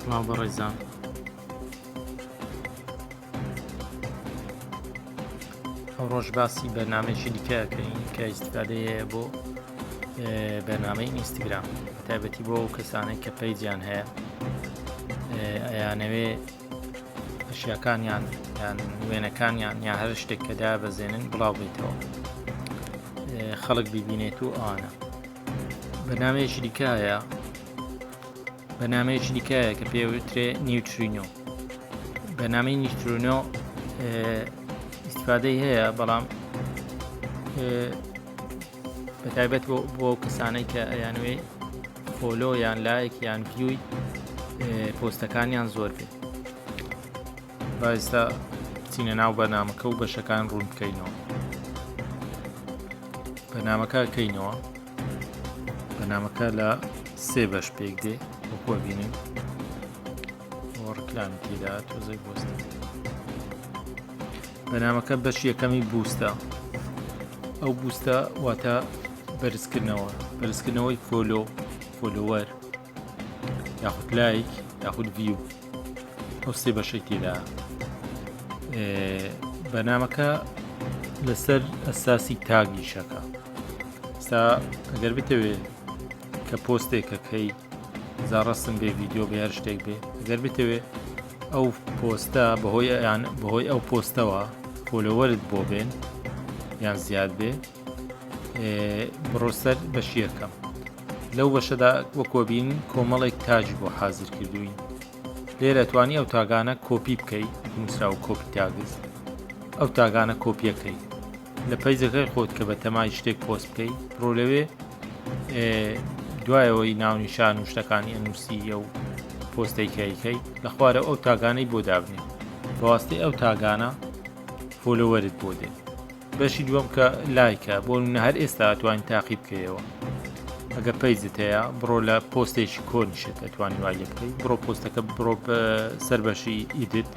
سڵاو بەڕێزان ئەو ڕۆژ باسی بەنامێکی دیکەکەین کە ئیسفادەیە بۆ بەنامەی ئینستاگرام تایبەتی بۆ ئەو کەسانێک کە پەیجیان هەیە ئەیانەوێ ئەشیاکانیان یان وێنەکانیان یا هەر شتێک کە دابەزێنن بڵاو بێتەوە خەڵک ببینێت و ئەوانە بەنامەیەکی دیکایە بەنامەیەکی دیکایە کە پێوترێ نیوترینۆ بەنامی نیوترینۆ استفادەی هەیە بەڵام بەتایبەت بۆ بۆ کەسانەی کە ئەیانوێ فۆلۆ یان لایەک یان پیوی پۆستەکانیان زۆر بێت بایستا چینە ناو بەنامەکە و بەشەکان ڕوون بکەینەوە بەنامەکە کەینەوە بەنامەکە لە سێ بەش پێک دێ وەکۆ بینین ڕکلام تێدا تۆزەی بۆستە بەنامەکە بەش یەکەمی بوستە ئەو بوستە واتە بەرزکردنەوە بەرزکردنەوەی فۆلۆ فۆلوەر یاخود لایک یاخود ڤیو ئەو سێ بەشەی تێدا بەنامەکە لەسەر ئەساسی تاگیشەکە ستا ئەگەر بتەوێت کە پۆستێکەکەی جا ڕەسم بێ ڤیددیو بێ هەر شتێک بێ گەر بتەوێ ئەو پۆستە بەهۆی یان بەهۆی ئەو پۆستەوە فۆلۆوەرت بۆ بێن یان زیاد بێ بڕۆسەر بەشیەکەم لەو بەشەدا وەکۆبین کۆمەڵێک تاج بۆ حازر کردوین لێرە توانی ئەو تاگانە کۆپی بکەیت نووسراو کۆپی تاگز ئەو تاگانە کۆپیەکەی لە پەیجەکەی خۆت کە بە تەمای شتێک پۆست بکەیت بڕۆ لەوێ دوایەوەی ناونیشان و شتەکانی ئەنووسیە و پۆستەی کایکەی لە خوارە ئەو تاگانەی بۆ دابنێ بەواستەی ئەو تاگانە فۆلۆوەرت بۆ دێت بەشی دووەم کە لایکە بۆ منە هەر ئێستا توانین تاقی بکەیەوە ئەگە پەیجت هەیە بڕۆ لە پۆستێکی کۆنیشێت ئەتوانی وای لێ بکەیت بڕۆ پۆستەکە بڕۆ سەر بەشی ئیدت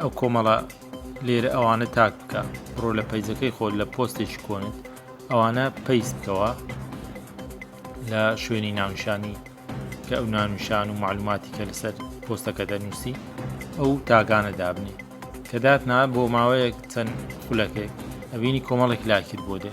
ئەو کۆمەڵە لێرە ئەوانە تاگ بکە بڕۆ لە پەیجەکەی خۆت لە پۆستێکی کۆنت ئەوانە پەیس بکەوە لە شوێنی ناونشانی کە ئەو نانوشان و معلوماتی کە لەسەر پۆستەکە دەنووسی ئەو تاگانە دابنی کە داتنا بۆ ماوەیەک چەند خولەکێک ئەبینی کۆمەڵێک لاکت بۆ دێ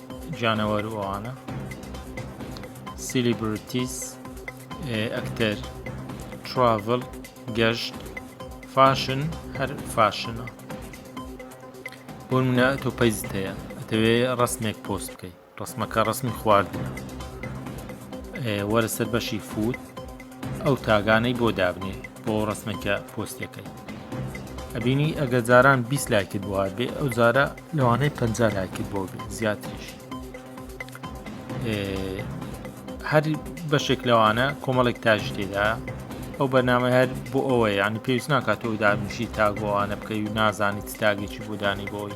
جانەوەر و ئەوانە سیلیبرتیس ئەکتەر تراڤل گەشت فاشن هەر فاشنە بۆ منە تۆ پەیزت هەیە ئەتەوێ ڕسمێک پۆست بکەیت ڕسمەکە ڕسمی خواردنە وەرە سەر بەشی فوت ئەو تاگانەی بۆ دابنێ بۆ ڕسمە کە پۆستەکەی ئەبینی ئەگە جاران بیست لایکت بۆ هاات بێ ئەو جارە لەوانەی پ لایکت بۆ بێ زیاتریش هەر بەشێک لەوانە کۆمەڵێک تاژ تێدا ئەو بەنامە هەر بۆ ئەوەیە ینی پێویست ناکات و دابنیشی تاگۆوانە بکەی و نازانیت تاگەیی بۆدانی بۆی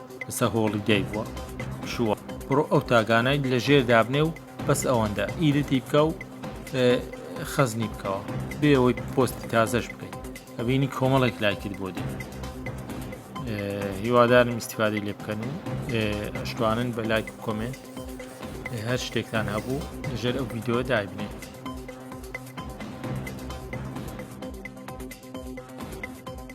ئسا هۆڵی دای بوە شووە. بڕۆ ئەو تاگانای لە ژێر دابنێ و بەس ئەوەندە ئیدتی بکە و خەزنی بکەوە بێەوەی پۆستی تازەش بکەیت ئەبینی کۆمەڵێک لایکرد بۆ دێ هیوادارم استفادەی لێ بکەن و ئەشتوانن بە لایک و کۆمنت هەر شتێکتان هەبوو لەژێر ئەو ویددیو دابنێت